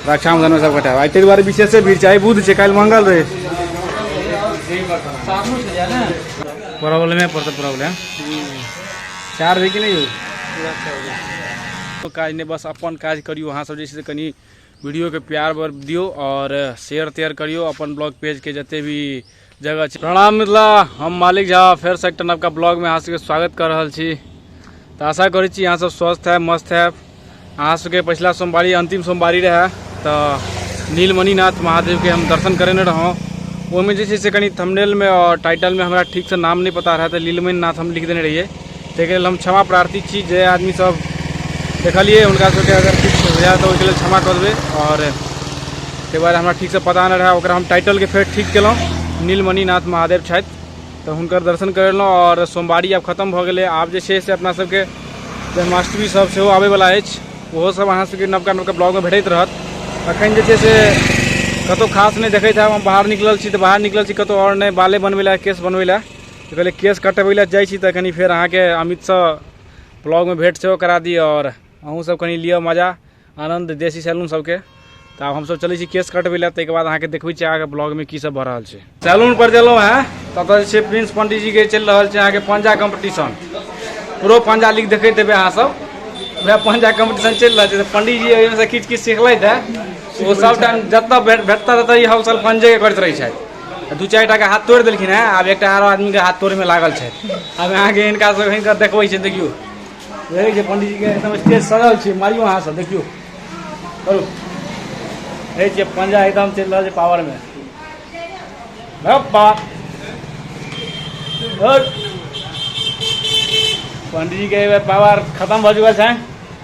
रक्षाबंधन में सब कटाव आई ताहि दुआरे विशेषे भीड़ छै आइ बुध छै काल्हि मंगल रहै प्रॉब्लमे पर तऽ प्रॉब्लम चार होइ कि नहि यौ काज नहि बस अपन काज करियौ अहाँ सब जे छै से कनि वीडियोके प्यार बर दियौ आओर शेयर तेयर करियौ अपन ब्लॉग पेजके जते भी जगह छै प्रणाम मिथिला हम मालिक झा फेर से एकटा नवका ब्लॉगमे अहाँ सबके स्वागत कऽ रहल छी तऽ आशा करै छी अहाँ सब स्वस्थ है मस्त है अहाँ सबके पछिला सोमवारी अंतिम सोमवारी रहै तऽ नीलमणिनाथ महादेवके हम दर्शन करेने रहौं ओहिमे जे छै से कनि थंबनेलमे आओर टाइटलमे हमरा ठीकसँ नाम नहि पता रहै तऽ नीलमणिनाथ हम लिख देने रहियै ताहिके लेल हम क्षमा प्रार्थी छी जे आदमीसभ देखलिए हुनका सभके अगर किछु होइए तऽ ओहिके लेल क्षमा कऽ देबै आओर ताहि दुआरे हमरा ठीकसँ पता नहि रहै ओकरा हम टाइटलके फेर ठीक केलहुँ नीलमणिनाथ महादेव छथि तऽ हुनकर दर्शन करेलहुँ आओर सोमवारी आब खतम भऽ गेलै आब जे छै से अपना सभके जन्माष्टमी सब सेहो आबैवला अछि ओहो सब अहाँ सभके नवका नवका ब्लॉगमे भेटैत रहत अखन जे छै से कतहु खास नहि देखैत हैब हम बाहर निकलल छी तऽ बाहर निकलल छी कतहु आओर नहि बाले बनबै लए केश बनबै लए तो पहले केस कटबै लए जाइ छी तऽ कनि फेर अहाँके अमितसँ ब्लॉगमे भेट सेहो करा दी आओर अहूँ सब कनि लिअ मजा आनन्द देसी सैलून सबके तऽ आब हमसब चलै छी केस कटबै लए ताहिके बाद अहाँके देखबै छी अहाँके ब्लॉगमे की सब भऽ रहल छै सैलून पर देलहुँ हँ ततऽ जे छै प्रिंस पंडीजीके चलि रहल छै अहाँके पंजा कम्पटिशन प्रो पंजा लीग देखैत हेबै अहाँ सब वएह पंजा कम्पटिशन चलि रहल छै तऽ पंडीजी एहिमेसँ किछु किछु सिखलथि हँ ओ सब टाइम जतऽ भेटता ततऽ ई हमसब पंजे करैत रहै छथि दू चारि टाके हाथ तोड़ि देलखिन हेँ आब एकटा आरो आदमीके हाथ तोड़ैमे लागल छथि आब अहाँके हिनका सब हिनकर देखबै छै देखियौ देखै छै पंडीजीके एकदम स्टेज सजल छै मारियो अहाँ सब देखियौ करू देखै छियै पंजा एकदम चलि रहल छै पावरमे पंडीजीके पावर खतम भऽ चुकल छै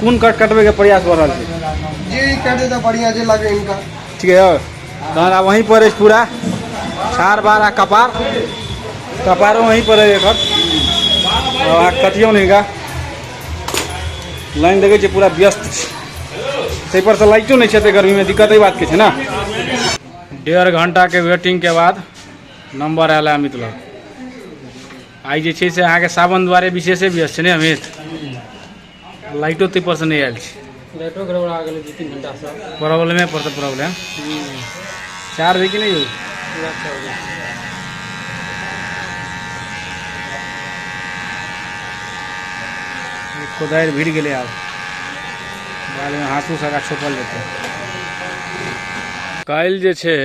कोन काट कटबे के प्रयास भ रहल छै जे ई काट देता बढ़िया जे लगे इनका ठीक है और तहन आब वहीं पर अछि पूरा छार बार आ कपार कपारो वहीं पर है एकर आब अहाँ कटियौ ने हिनका लाइन देखै छियै पूरा व्यस्त छै ताहिपर से लाइटो नहि छै एते गर्मीमे दिक्कत एहि बातके छै ने डेढ़ घंटाके वेटिंगके बाद नंबर आयल है अमित लग आइ जे छै से अहाँके सावन दुआरे विशेषे व्यस्त छै ने अमित लाइटो ताहिपर से नहि आयल छै लाइटो गड़बड़ा गेलै दू तीन घंटासँ प्रॉब्लमे पर तऽ प्रॉब्लम चार्ज है कि नहि यौ ई कोदारि भिड़ गेलै आब बादमे हाँसू सगा छोपल जेतै काल्हि जे छै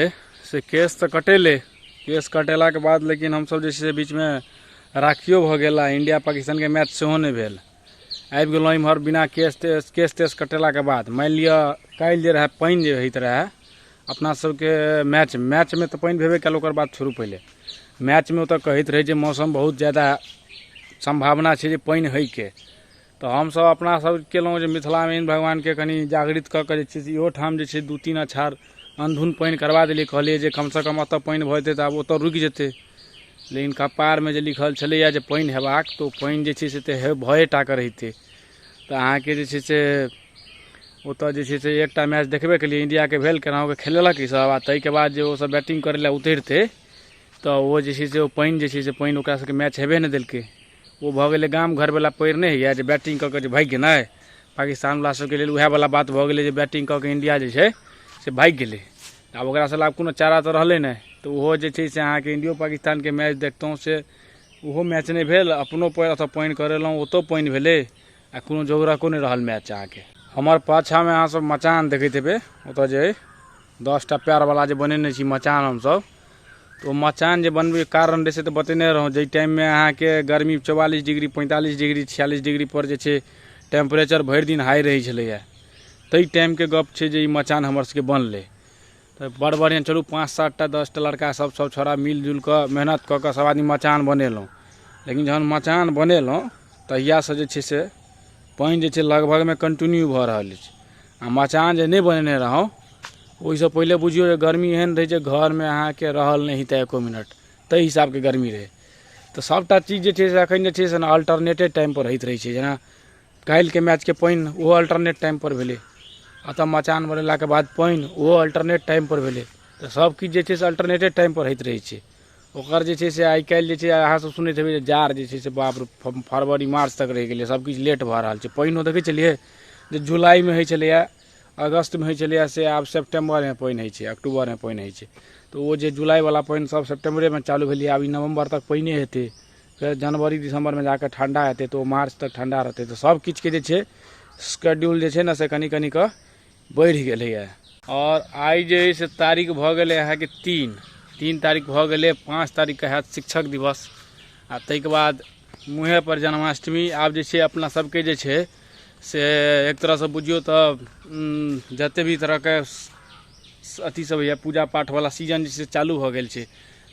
से केस तऽ कटेलै केश कटेलाके बाद लेकिन हमसभ जे छै से बीचमे राखियो भऽ गेल आ इंडिया पाकिस्तानके मैच सेहो नहि भेल आबि गेलहुँ इम्हर बिना केश तेश केश तेश कटेलाके बाद मानि लिअ काल्हि जे रहए पानि जे होइत रहए अपना सबके मैच मैचमे तऽ पानि भेबे कयल ओकर बाद छोड़ू पहिले मैचमे ओतऽ कहैत रहै जे मौसम बहुत जादा सम्भावना छै जे पानि होइके तऽ हमसभ अपना सभ केलहुँ जे मिथिलामे इन भगवानके कनि जागृत कऽ कऽ जे छै से इहो ठाम जे छै दू तीन अछार अनधुन पानि करबा देलियै कहलियै जे कम सँ कम एतऽ पानि भऽ जेतै तऽ आब ओतऽ रुकि जेतै लेकिन कपारमे जे लिखल छलैए जे पानि हेबाक तऽ ओ पानि जे छै से तऽ हे भए टा कऽ रहितै तऽ अहाँके जे छै से ओतऽ जे छै से एकटा मैच देखबे केलियै इंडियाके भेल केनाहुके खेलेलक ई सभ आ ताहिके बाद जे ओ सभ बैटिंग करै लए उतरितै तऽ ओ जे छै से ओ पानि जे छै से पानि ओकरा सभके मैच हेबे नहि देलकै ओ भऽ गेलै गाम घरवला पढ़ि नहि होइए जे बैटिंग कऽ कऽ जे भागि गेनाइ पाकिस्तानवला सभके लेल उएहवला बात भऽ गेलै जे बैटिंग कऽ कऽ इंडिया जे छै से भागि गेलै आब ओकरा सभ कोनो चारा तऽ रहलै नहि तऽ ओहो जे छै से अहाँके इंडियो पाकिस्तानके मैच देखतहुँ से ओहो मैच नहि भेल अपनो पएर अथवा पानि करेलहुँ ओतहु पानि भेलै आ कोनो जोगरको नहि रहल मैच अहाँके हमर पाछाँमे अहाँसभ मचान देखैत हेबै ओतय जे अइ दस टा पएरवला जे बनेने छी मचान हमसभ तो मचान जे बनबे कारण रहै से तऽ बतेने रहौं जै टाइम में अहाँ के गर्मी 44 डिग्री 45 डिग्री 46 डिग्री पर जे छै टेम्परेचर भरि दिन हाई रहै छलैया तै टाइम के गप छै जे ई मचान हमर सबके बनलै तऽ बड़ बढ़िया चलू पाँच सात टा दस टा लड़का सब सब छोड़ा मिल जुल कऽ मेहनत कऽ कऽ सब आदमी मचान बनेलहुँ लेकिन जहन मचान बनेलहुँ तहिया से जे छै से पानि जे छै लगभगमे कन्टिन्यू भऽ रहल अछि आ मचान जे नहि बनेने रहौं ओहिसँ पहिले बुझियौ जे गर्मी एहन रहै जे घरमे अहाँके रहल नहि हेतै एको मिनट ताहि हिसाबके गर्मी रहै तऽ सभटा चीज जे छै से अखन जे छै से अल्टरनेटे टाइम पर होइत रहै छै जेना काल्हिके मैचके पानि ओहो अल्टरनेट टाइम पर भेलै आ तऽ मचान बनेलाके बाद पानि ओहो अल्टरनेट टाइम पर भेलै तऽ सभ किछु जे छै से अल्टरनेटे टाइम पर होइत रहै छै ओकर जे छै से आइ काल्हि जे छै अहाँ सब सुनैत हेबै जे जाड़ जे छै से बाप रे फ- फरवरी मार्च तक रहि गेलै सब किछु लेट भऽ रहल छै पानिओ देखै छलियै जे जुलाइमे होइ छलैए अगस्तमे होइ छलैए से आब सेप्टेम्बरमे पानि होइ छै अक्टूबरमे पानि होइ छै तऽ ओ जे जुलाइवला पानि सब सेप्टेम्बरेमे चालू भेलै आब ई नवम्बर तक पानिए हेतै फेर जनवरी दिसम्बरमे जाकऽ ठण्डा हेतै तऽ ओ मार्च तक ठण्डा रहतै तऽ सब किछुके जे छै स्केड्यूल जे छै ने से कनि कनि कऽ बढ़ि गेलैए आओर आइ जे अइ से तारीख भऽ गेलै अहाँके तीन तीन तारीख भऽ गेलै पाँच तारीखके हैत शिक्षक दिवस आ ताहिके बाद मुँहेपर जन्माष्टमी आब जे छै अपना सबके जे छै से एक तरहसँ बुझियौ तऽ जतेक भी तरहके अथी सब होइए पूजा पाठवला सीजन जे छै से चालू भऽ गेल छै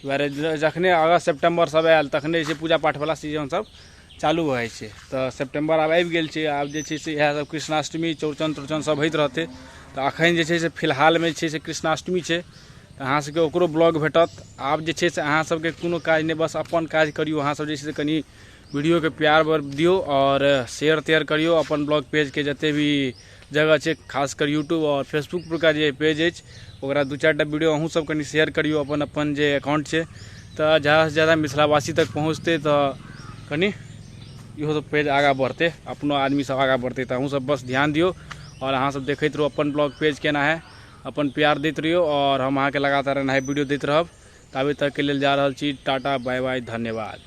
दुआरे जखने अगस्त सेप्टेम्बर सब आयल तखने जे छै पूजा पाठ वाला सीजन सब चालू भऽ जाइ छै तऽ सेप्टेम्बर आब आबि गेल छै आब जे छै से इएह सब कृष्णाष्टमी चौड़चन तौड़चन सब होइत रहतै तऽ अखन जे छै से फिलहालमे छै से कृष्णाष्टमी छै तऽ अहाँ सबके ओकरो ब्लॉग भेटत आब जे छै से अहाँ सबके कोनो काज नहि बस अपन काज करियौ अहाँ सब जे छै से कनि वीडियोके प्यार दियौ आओर शेयर तेयर करियौ अपन ब्लॉग पेजके जते भी जगह छै खास कर यूट्यूब आओर फेसबुक परका जे पेज अछि ओकरा दू चारि टा वीडियो अहूँ सब कनि शेयर करियौ अपन अपन जे अकाउंट छै तऽ जादासँ जादा मिथिलावासी तक पहुँचतै तऽ कनि इहो सब पेज आगाँ बढ़तै अपनो आदमी सब आगाँ बढ़तै तऽ अहूँ सब बस ध्यान दियौ आओर अहाँ सब देखैत रहू अपन ब्लॉग पेज केना है अपन प्यार दैत रहियौ आओर हम अहाँके लगातार एनाहे वीडियो दैत रहब ताबे तक के लेल जा रहल छी टाटा बाय बाय धन्यवाद